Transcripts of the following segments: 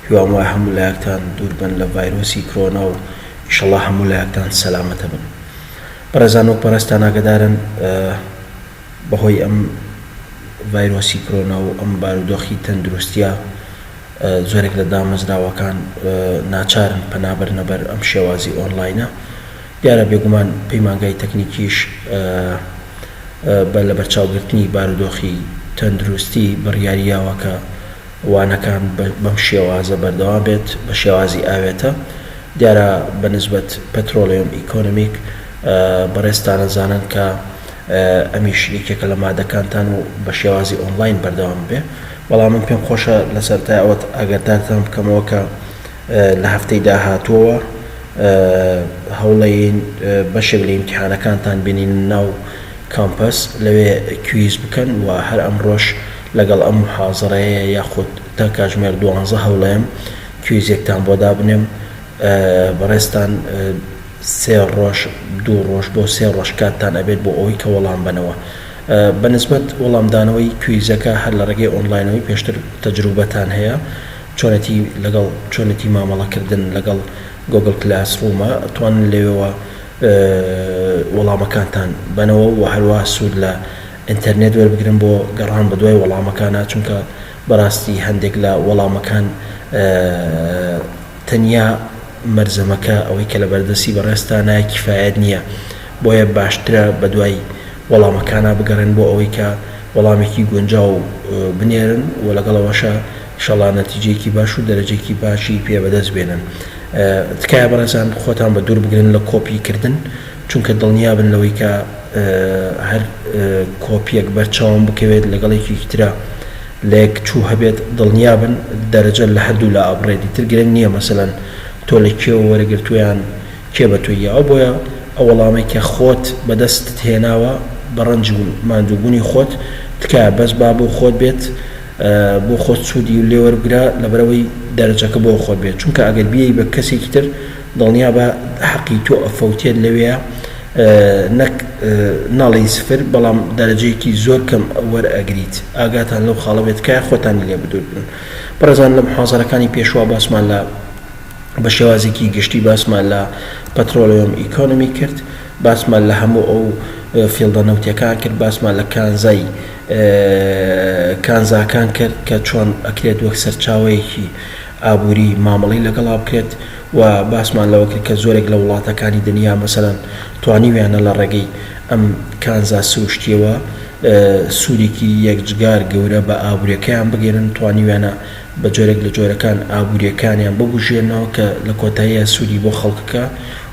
هیوام وایە هەموو لایەکتان دوور بن لە ڤایرۆسی کرۆنا و ئیشەڵا هەموو لایەکتان سەلامەتە بن بەڕێزان وەک بەڕێزتان ئاگەدارن بەهۆی ئەم ڤایرۆسی کرۆنا و ئەم بارودۆخی تەندروستیە زۆرێک لە دامەزراوەکان ناچارن پەنابرنە بەر ئەم شێوازی ئۆنلاینە دیارە بێگومان پەیمانگای تەکنیکیش بە لە بەرچاوگرتنی بارودۆخی تەندروستی بڕیاریاوە کە وانەکان بەم شێوازە بەردەوام بێت بە شێوازی ئاوێتە دیارە بە نسبەت پترۆلیۆم ئیکۆنمیک بەڕێزتانە زانن کە ئەمیش یەکێکە لە مادەکانتان و بە شێوازی ئۆنلاین بەردەوام بێ بەڵام من پێم خۆشە لەسەرتای ئەوەت ئەگەردارتان بکەمەوە کە لە هەفتەی داهاتووەوە هەوڵەین بەشێک لە ئیمتحانەکانتان بینین ناو کامپەس لەوێ کویز بکەن و هەر ئەمڕۆش لەگەڵ ئەم موحازەرەیە یاخود تا کاژمێر دوانزە هەولێم کویزێکتان بۆ دابنێم بەڕێزتان سێ ڕۆژ دوو ڕۆژ بۆ سێ ڕۆژ کاتتان ئەبێت بۆ ئەوەی کە وەڵام بەنەوە بە نسبەت وەڵام دانەوەی کویزەکە هەر لە ڕێگەی ئۆنلاینەوەی پێشتر تەجروبەتان هەیە چۆنێتی لەگەڵ چۆنێتی مامەڵە کردن لەگەڵ گۆگڵ کلاس ڕوومە توانن لەوێوە وەڵامەکانتان بەنەوە و هەروا سوود لە ئینتەرنێت وەربگرن بۆ گەڕان بەدوای وەڵامەکانا چونکە بەڕاستی هەندێک لە وەڵامەکان تەنیا مەرزەمەکە ئەوەی کە لە بەردەستی بەڕێزتا نایە کیفایەت نییە بۆیە باشترە بەدوای وەڵامەکانا بگەڕێن بۆ ئەوەی کە وەڵامێکی گونجاو بنێرن و لەگەڵەوەشە ئیشەڵا نەتیجەیەکی باش و دەرەجەیەکی باشی پێ بەدەست بێنن تکایە بەڕێزان خۆتان بە دوور بگرن لە کۆپی کردن چونکە دڵنیابن لەوەی کە هەر کۆپیەک بەرچاوم بکەوێت لەگەڵ یەکێکی ترا لە یەک چوو هەبێت دڵنیابن دەرەجە لە هەردوو لا ئەبڕێت دیتر گرنگ نییە مەسەلەن تۆ لە کێوە وەرەگرتویان کێ بە تۆی یاوە بۆیە ئەو وەڵامەی کە خۆت بەدەستت هێناوە بە ڕەنج و ماندووبوونی خۆت تکایە بەس با بۆ خۆت بێت بۆ خۆت سوودی لێوەربگرە لەبەرئەوەی دەرەجەکە بۆ خۆت بێت چونکە ئەگەر بیەی بە کەسێکی تر دڵنیابە حەقی تۆ ئەفەوتێت لەوێ نەک نەڵێی سفر بەڵام دەرەجەیەکی زۆر کەم وەرئەگریت ئاگاتان لەو خاڵە بێت تکایە خۆتانی لێ بدوور بن بەڕێزان لە محازەرەکانی پێشوە باسمان لە بە شێوازێکی گشتی باسمان لە پەترۆلێۆم ئیکۆنمی کرد باسمان لە هەموو ئەو فیڵدە نەوتیەکان کرد باسمان لە کانزای کانزاکان کرد کە چۆن ئەکرێت وەک سەرچاوەیەکی ئابووری مامەڵەی لەگەڵا بکرێت و باسمان لەوە کرد کە زۆرێک لە وڵاتەکانی دنیا مەسەلەن توانیویانە لە ڕێگەی ئەم کانزا سروشتییەوە سوودێکی یەکجگار گەورە بە ئابووریەکەیان بگەیەنن توانیویانە بە جۆرێک لە جۆرەکان ئابووریەکانیان ببوژێننەوە کە لە کۆتاییا سوودی بۆ خەڵکەکە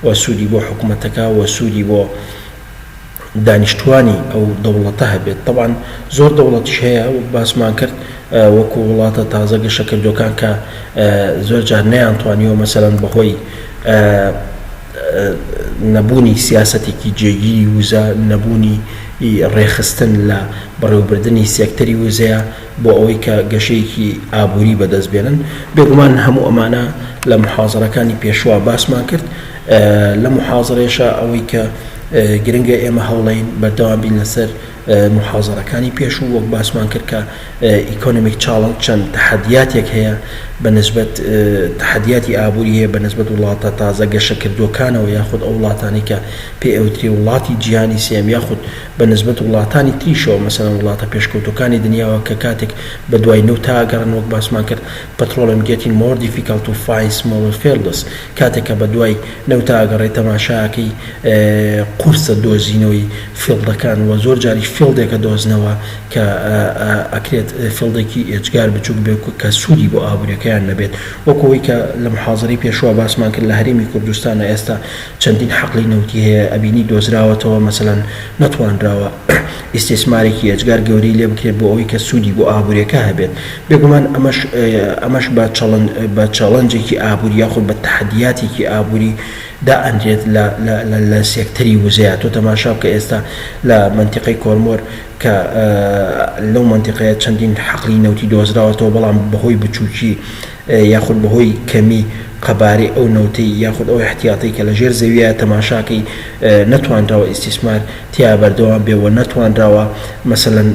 و سوودی بۆ حکومەتەکە و سوودی بۆ دانیشتوانی ئەو دەوڵەتە هەبێت تەبعەن زۆر دەوڵەتیش هەیە وەک باسمان کرد وەکو وڵاتە تازە گەشە کردوەکان کە زۆر جار نەیان توانیوە مەسەرەن بەهۆی نەبوونی سیاسەتێکی جێگیری وزە نەبوونی ڕێخستن لە بەڕێوبردننی سێکتەری وزەیە بۆ ئەوەی کە گەشەیەکی ئابووری بەدەست بێنن بێگومان هەموو ئەمانە لە محازڕەکانی پێشوە باسمان کرد لەم موحازەرەیەشا ئەوەی کە گرنگە ئێمە هەوڵەین بەردەوام بین لەسەر موحازەرەکانی پێشوو وەک باسمان کرد کە ئیکۆنمیک چاڵنج چەند تەحەدیاتێک هەیە بە نسبەت تەحەدیاتی ئابووری هەیە بە نسبەت وڵاتە تازە گەشەکردووەکانەوە یاخود ئەو وڵاتانەی کە پێ ئەوترێ وڵاتی جیهانی سێیەم یاخود بە نسبەت وڵاتانی تریشەوە مەسەلەن وڵاتە پێشکەوتووەکانی دنیاوە کە کاتێک بە دوای نەوتا ئەگەڕێن وەک باسمان کرد پترۆڵێم گێتین مۆر دیفیکەڵت تو فاین سمۆڵەر فێلدس کاتێک کە بەدوای نەوتا ئەگەڕێی تەماشا ئەکەی قورسە دۆزینەوەی فیڵدەکان وە زۆر جاریش فیڵدێک ئەدۆزنەوە کە ئەکرێت فیڵدێکی ئێجگار بچوک بێ کە سودی بۆ ئابوریەکەیان نەبێت وەک ئەوەی کە لە محازەرەی پێشوە باسمان کرد لە هەرێمی کوردستان ئێستا چەندین حەقلی نەوتی هەیە ئەبینی دۆزراوەتەوە مەسەلەن نەتوانراوە ئیستیسمارێکی ئێجگار گەورەی لێ بکرێت بۆ ئەوەی کە سوودی بۆ ئابووریەکە هەبێت بێگومان ئەمەش ئەمەش بە چەڵن بە چەڵنجێکی ئابووری یاخود بە تەحەدیاتێکی ئابووری دا ئەنرێت لە لە لە سێکتەری وزەیە تۆ تەماشا بکە ئێستا لە مەنتیقەی کۆرمۆر کە لەو مەنتیقەیە چەندین حەقلی نەوتی دۆزراوەتەوە بەڵام بەهۆی بچووکی یاخود بەهۆی کەمی قەبارەی ئەو نەوتەی یاخود ئەو احتیاطەی کە لەژێر زەویە تەماشاکەی نەتوانراوە ئیستیسمار تیا بەردەوام بێ و نەتوانراوە مەسەلەن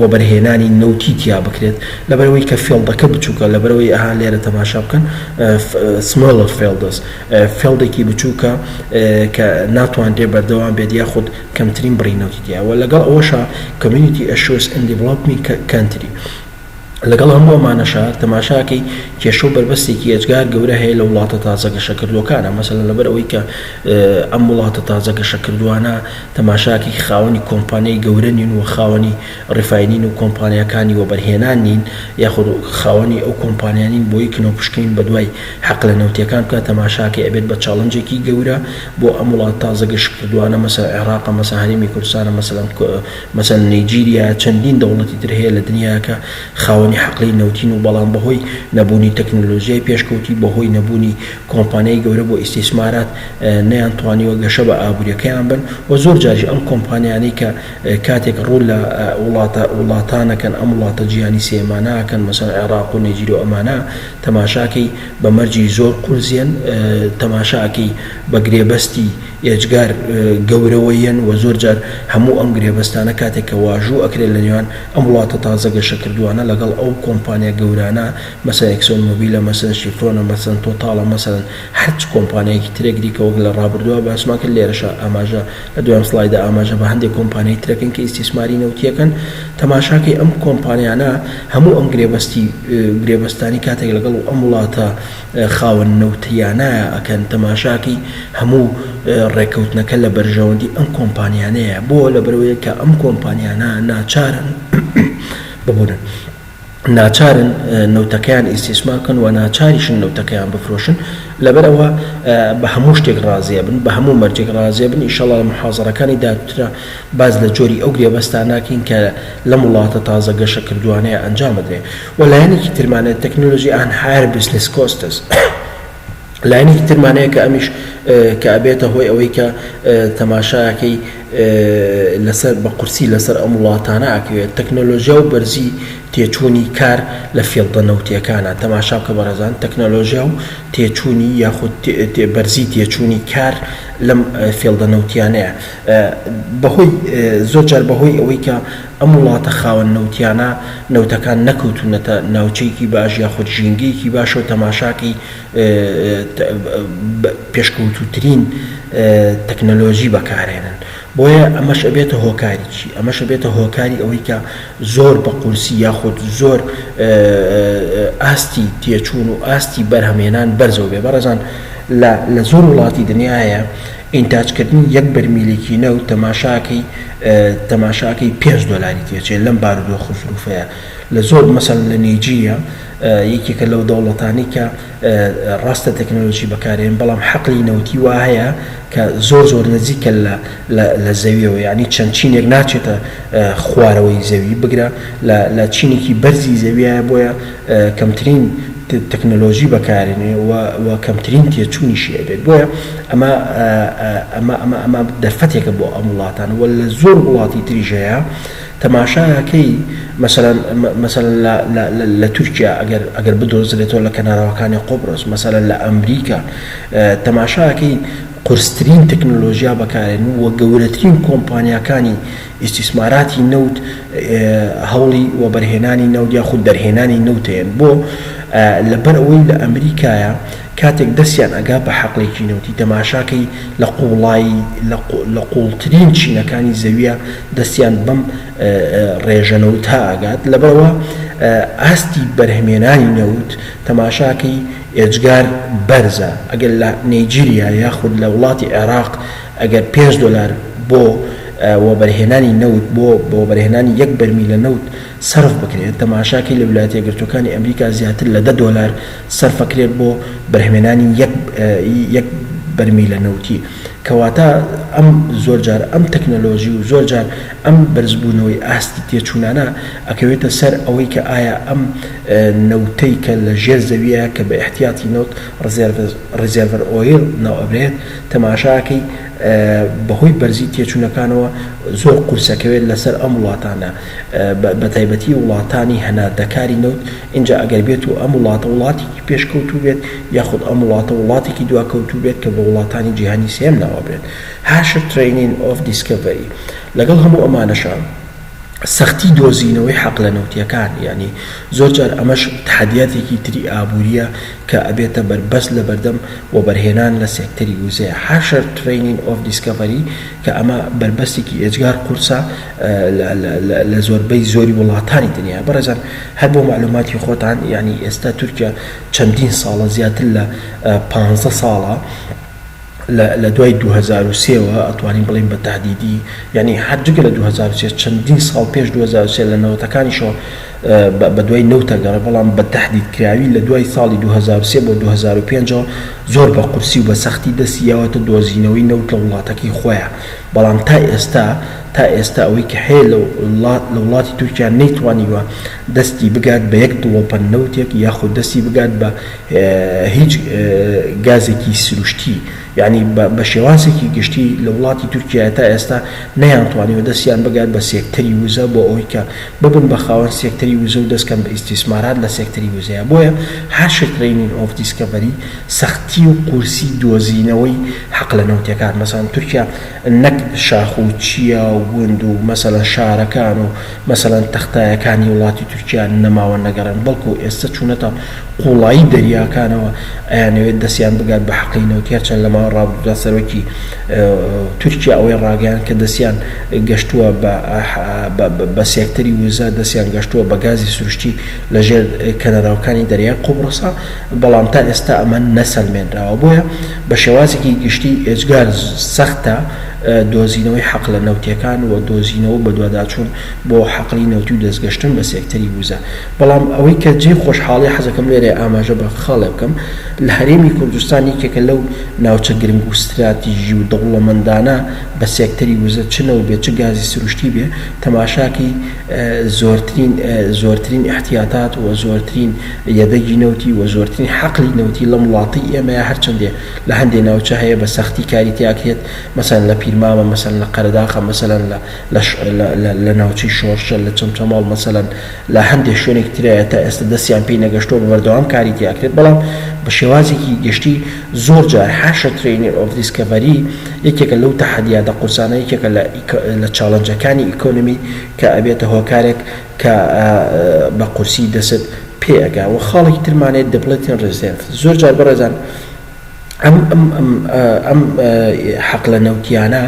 وەبەرهێنانی نەوتی تیا بکرێت لەبەرئەوەی کە فێڵدەکە بچوکە لەبەرئەوەی ئەها لێرە تەماشا بکەن smaller فێڵدس فێڵدێکی بچوکە کە ناتوانرێ بەردەوام بێت یاخود کەمترین بڕی نەوتی تیایە وە لەگەڵ ئەوەشا Community Issues in Developing Country لەگەڵ هەموو ئەمانەشا تەماشاکەی کێشە و بەربەستێکی ئێجگار گەورە هەیە لە وڵاتە تازە گەشەکردووەکانە مەسەلەن لەبەر ئەوەی کە ئەم وڵاتە تازە گەشەکردووانە تەماشاکەی خاوەنی کۆمپانیای گەورە نین و خاوەنی ڕیفاینین و کۆمپانیاکانی وەبەرهێنان نین یاخود خاوەنی ئەو کۆمپانیانین بۆی کنەوپشکنین بەدوای حەقلە نەوتیەکان بکات تەماشاکەی ئەبێت بە چاڵنجێکی گەورە بۆ ئەم وڵاتە تازە گەشەکردووانە مەسەلەن عێراقە مەسەلەن هەرێمی کوردستانە مەسەلەن مەسەلەن نیجیریا چەندین دەوڵەتی تر هەیە لە دنیا کە خاوەنی حەقلەی نەوتین و بەڵام بەهۆی نەبوونی تەکنەلۆژیای پێشکەوتوی بەهۆی نەبوونی کۆمپانیای گەورە بۆ ئیستیسمارات نەیان توانیوە گەشە بە ئابوریەکەیان بن و زۆر جاریش ئەم کۆمپانیانەی کە کاتێک ڕوو لە وڵاتە وڵاتانەکەن ئەم وڵاتە جیهانی سێیەمانە ئەکەن مەسەلەن عێراق و نیجیریا و ئەمانە تەماشا کەی بە مەرجی زۆر قورزێن تەماشا ئەکەی بە گرێبەستی ئێجگار گەورەوە یەن و زۆر جار هەموو ئەم گرێبەستانە کاتێک کە واژوو ئەکرێت لە نێوان ئەم وڵاتە تازە گەشە کردووانە لەگەڵ ئەو کۆمپانیا گەورانە مەسەن ئێکسۆن مۆبیلە مەسەن شیفرۆنە مەسەن تۆتاڵە مەسەن هەر چ کۆمپانیایەکی ترێک دیکە وەک لە ڕابردووا باسمان کرد لێرەشا ئاماژە لە دوایین سڵایدا ئاماژە بە هەندێک کۆمپانیای تر ئەکەین کە ئیستیسماری نەوتیەکەن تەماشاکەی ئەم کۆمپانیانە هەموو ئەم گرێبەستی گرێبەستانی کاتێک لەگەڵ ئەم وڵاتە خاوەن نەوتیانایە ئەکەن تەماشاکەی هەموو ڕێکەوتنەکە لە بەرژەوەندی ئەم کۆمپانیانەیە بۆ لەبەرەوەی کە ئەم کۆمپانیانە ناچارن ببورن ناچارن نەوتەکەیان ئیسیسمار بکەن و ناچاریشن نەوتەکەیان بفرۆشن لەبەرەوە بە هەموو شتێک ڕازیە بن بە هەموو مەرجێک ڕازیە بن ئیشەڵا لە محازڕەکانی داترا باز لە جۆری ئەو گرێبەستاناکەین کە لەم وڵاتە تازە گەشە کردوانەیە ئەنجامدرێ و لایەنێکی ترمانە تەکنۆلۆژی ئان هایەر بزنس کۆستس لایەنێکی ترمانەیە کە ئەمیش کە ئەبێتە هۆی ئەوەی کە تەماشاکەی لەسەر بە قورسی لەسەر ئەم وڵاتانە ئەکەوێت تەکنۆلۆژیا و بەرزی تێچوونی کار لە فێڵدە نەوتیەکانە تەماشا بکە بەڕێزان تەکنۆلۆژیا و تێچوونی یاخود بەرزی تێچوونی کار لەم فێڵدە نەوتیانەیە بەهۆی زۆر جار بەهۆی ئەوەی کە ئەم وڵاتە خاوەن نەوتیانە نەوتەکان نەکەوتونەتە ناوچەیەکی باش یاخود ژینگەیەکی باشەو تەماشاکەی پێشکەوتوترین تەکنەلۆجی بەکارێنن بۆیە ئەمەش ئەبێتە هۆکاریکی ئەمەش ئەبێتە هۆکاری ئەوەی کە زۆر بە قورسی یاخود زۆر ئاستی تێچون و ئاستی بەرهەمهێنان بەرزەوبێ بەڕێزان لە زۆر وڵاتی دنیایە ئینتاج کردنی یەک بەرمیلی کینەو تەماشاکەی تەماشاکەی پێنج دۆلاری تێچێ لەم بارودۆخو زروفەیا لە زۆر مەسەلەن لە نیجیریا یەکێکە لەو دەوڵەتانەی کە ڕاستە تەکنەلۆجی بەکارێن بەڵام حەقلی نەوتی وا هەیە کە زۆر زۆر نزیکە لە لە زەویەوە یانی چەند چینێک ناچێتە خوارەوەی زەوی بگرە لە لە چینێکی بەرزی زەویایە بۆیە کەمترین تەکنەلۆژی بەکارێنێ و کەمترین تێچوونیشی ئەبێت بۆیە ئەمە ئەمە ئەمە ئەمە دەرفەتێکە بۆ ئەم وڵاتان و لە زۆر وڵاتی تریش هەیە تەماشاکەی مەسەلەن مەسەلەن لە لە لە لە تورکیا ئەگەر ئەگەر بدۆزرێتەوە لە کەناراوەکانی قوبرس مەسەلەن لە ئەمریکا تەماشاکەی قورسترین تەکنەلۆژیا بەکارێن و گەورەترین کۆمپانیاکانی ئیستیسماراتی نەوت هەوڵی وەبەرهێنانی نەوت یاخود دەرهێنانی نەوتەیەن بۆ؟ لەبەر ئەوەی لە ئەمریکایە کاتێک دەستیان ئەگا بە حەقلێکی نەوتی تەماشاکەی لە قوڵایی لە قوڵترین چینەکانی زەویە دەستیان بەم ڕێژە نەوتە ئەگات لەبەرئەوە ئاستی بەرهمێنانی نەوت تەماشاکەی ئێجگار بەرزە ئەگەر لە نەیجیریا یاخود لە وڵاتی عێراق ئەگەر پێنج دۆلار بۆ وەبەرهێنانی نەوت بۆ وەبەرهێنانی یەک بەرمیلە نەوت سەرف بکرێت، تەماشاکەی لە ولایەتە یەکگرتووەکانی ئەمریکا زیاتر لە دە دۆلار سەرفەکرێت بۆ بەرهمێنانی یەک بەرمیلە نەوتی، کەواتە ئەم زۆر جار ئەم تەکنەلۆژی و زۆر جار ئەم بەرزبوونەوەی ئاستی تێچوونانە ئەکەوێتە سەر ئەوەی کە ئایا ئەم نەوتەی کە لە ژێر زەویە کە بە ئیحتیاتی نەوت ڕیزێرڤەر ئۆیڵ ناوئەبرێت تەماشاکەی بەهۆی بەرزی تێچونەکانەوە زۆر قورسەکەوێت لەسەر ئەم وڵاتانە بەتایبەتی وڵاتانی هەناردەکاری نەوت ئینجا ئەگەر بێت و ئەم وڵاتە وڵاتێکی پێشکەوتوو بێت یاخود ئەم وڵاتە وڵاتێکی دواکەوتوو بێت کە بە وڵاتانی جیهانی سێم ناوئەبرێت هاشر ترەینین ئۆف دیسکەڤەری لەگەڵ هەموو ئەمانەشا سەختی دۆزینەوەی حەقلە نەوتیەکان یانی زۆر جار ئەمەش تەحەدیاتێکی تری ئابوریە کە ئەبێتە بەربەست لەبەردەم وەبەرهێنان لە سێکتەری وزەیا هاشر ترەینین ئۆف دیسکەڤەری کە ئەمە بەربەستێکی ئێجگار قورسە لە زۆربەی زۆری وڵاتانی دنیا بەڕێزان هەر بۆ مەعلوماتی خۆتان یانی ئێستا تورکیا چەندین ساڵە زیاتر لە پانزە ساڵە لە دوای دوو هەزار و سێ وە ئەتوانین بڵێین بە تەهدیدی یانی هەر جگە لە دوو هەزار و سێ چەندین ساڵ پێش دوو هەزار و سێ لە نەوەتەکانیشەوە بە دوای نەوتە گەڕێ بەڵام بە تەهدیدکراوی لە دوای ساڵی دوو هەزار و سێ بۆ دوو هەزار و پێنج ەوە زۆر بە قورسی و بە سەختی دەستی یاوەتە دۆزینەوەی نەوت لە وڵاتەکەی خۆیان بەڵام تا ئێستا تا ئێستا ئەوەی کە هەیە لە وڵاتی تورکیا نەیتوانیوە دەستی بگات بە یەک دڵۆپە نەوتێک یاخود دەستی بگات بە هیچ گازێکی سروشتی یانی بە شێوازێکی گشتی لە وڵاتی تورکیایە تا ئێستا نەیانتوانیوە دەستیان بگات بە سێکتەری وزە بۆ ئەوەی کە ببن بە خاوەن سێکتەری وزە و دەستکەن بە ئیستیسمارات لە سێکتەری وزەیە بۆیە هاشر ترەینین ئۆف دیسکەڤەری سەختی و قورسی دۆزینەوەی حەق لە نەوتیەکان مەسەلەن تورکیا نەک شاخ و چیا و گوند و مەسەلەن شارەکان و مەسەلەن تەختایەکانی وڵاتی تورکیا نەماوە نەگەڕێن بەڵکو ئێستە چونەتە قوڵایی دەریاکانەوە ئەیانەوێت دەستیان بگات بە حەقی نەوت هێرچەند لە ماوەی ڕابردودا سەرۆکی تورکیا ئەوەی ڕاگەیاند کە دەستیان گەشتووە بە سێکتەری وزە دەستیان گەشتووە بە گازی سروشتی لە ژێر کەنەراوکانی دەریای قوبڕسە بەڵام تا ئێستە ئەمە نەسەلمێنراوە بۆیە بە شێوازێکی گشتی ئێجگار سەختە دۆزینەوەی حەقلە نەوتیەکان و دۆزینەوە و بەدواداچوون بۆ حەقلی نەوتی و دەستگەشتن بە سێکتەری وزە. بەڵام ئەوەی کە جێی خۆشحاڵیە حەزەکەم لێرە ئاماژە بە خاڵێ بکەم لە هەرێمی کوردستان یەکێکە لەو ناوچە گرنگ و ستراتیژی و دەوڵەمەندانە بە سێکتەری وزە چ نەوت بێ چ گازی سروشتی بێ تەماشاکەی زۆرترین زۆرترین ئیحتیاتات و زۆرترین یەدەگی نەوتی و زۆرترین حەقلی نەوتی لەم وڵاتەی ئێمەیە هەرچەندێ لە هەندێ ناوچە هەیە بە سەختی کاری تیاکرێت مەسەلەن لە پیرمامە مەسەلەن لە قەرەداخە مەسەلەن لە لە لە لە ناوچەی شۆرشە لە چەمچەماڵ مەسەلەن لە هەندێ شوێنێکی ترە تا ئێستا دەستیان پێی نەگەشتوە بە بەردەوام کاری تیاکرێت بەڵام بە شێوازێکی گشتی زۆر جار حاشە ترەینێر ئۆف دیسکەڤەری یەکێکە لەو تەحەدیاتە قورسانە یەکێکە لە لە چاڵنجەکانی ئیکۆنمی کە ئەبێتە هۆکارێک کە بە قورسی دەست پێ ئەگا وە خاڵێکی ترمان هەیە دپلتین ریزێرڤ زۆر جار بەڕێزان ئەم ئەم ئەم ئەم حەقلە نەوتیانە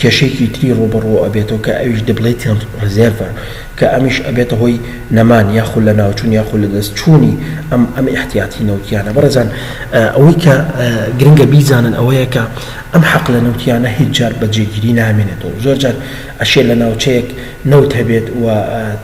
کێشێکی تری ڕوبڕوە ئەبێتەوە کە ئەویش دپلتین ریزێرڤە کە ئەمیش ئەبێتە هۆی نەمان یاخود لە ناوچون یاخود لە دەست چوونی ئەم ئەم احتیاتی نەوتیانە بەڕێزان ئەوەی کە گرنگە بیزانن ئەوەیە کە ئەم حەقلە نەوتیانە هیچ جار بە جێگیری نامێنێتەوە زۆر جار ئەشێ لە ناوچەیەک نەوت هەبێت و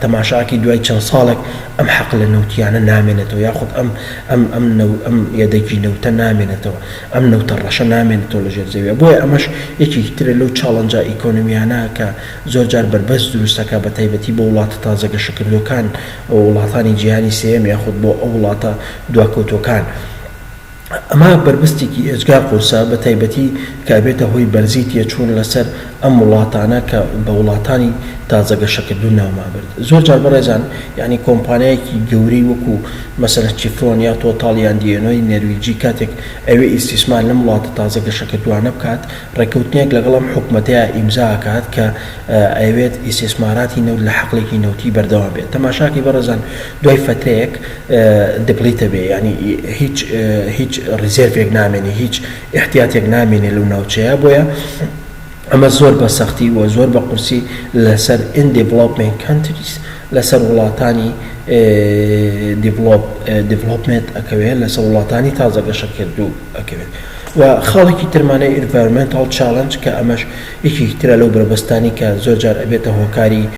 تەماشاکەی دوای چەند ساڵێک ئەم حەقلە نەوتییانە نامێنێتەوە یاخود ئەم ئەم ئەم نەو ئەم یەدەگی نەوتە نامێنێتەوە ئەم نەوتە ڕەشە نامێنێتەوە لەژێر زەوییە بۆیە ئەمەش یەکێکی ترە لەو چاڵنجە ئیکۆنمییانە کە زۆر جار بەربەست دروست دەکات بەتایبەتی بۆ وڵاتە تازە گەشەکردووەکان و وڵاتانی جیهانی سێیەم یاخود بۆ ئەو وڵاتە دواکەوتووەکان ئەمە بەربستێکی ئێجگار قورسە بە تایبەتی کە ئەبێتە هۆی بەرزی تێچوون لە سەر ئەم وڵاتانە کە بە وڵاتانی تازە گەشەکردوو ناومان برد زۆر جار بەڕێزان یانی کۆمپانیایەکی گەورەی وەکو مەسەلەن چیفرۆن یا تۆتاڵ یان دی ئێنۆی نەرویجی کاتێک ئەوێ ئیستیسمار لەم وڵاتە تازە گەشەکردووانە بکات ڕێکەوتنێک لەگەڵ ئەم حکومەتەیا ئیمزا ئەکات کە ئەیەوێت ئیستیسماراتی نەوت لە حەقلێکی نەوتی بەردەوام بێت تەماشاکەی بەڕێزان دوای فەترەیەک دپلیتە بێ یانی هیچ هیچ ریزێرڤێک نامێنێ هیچ ئیحتیاتێک نامێنێ لەو ناوچەیە بۆیە ئەمە زۆر بە سەختی وە زۆر بە قورسی لەسەر ان دیڤلۆپمێنت کەنتریس لەسەر وڵاتانی دیڤلۆپ دیڤلۆپمێت ئەکەوێ لەسەر وڵاتانی تازە گەشە کردوو ئەکەوێت و خاڵێکی ترمانەی ئینڤارمێنتاڵ چاڵنج کە ئەمەش یەکێکی ترە لەو بەربەستانی کە زۆر جار ئەبێتە هۆکاری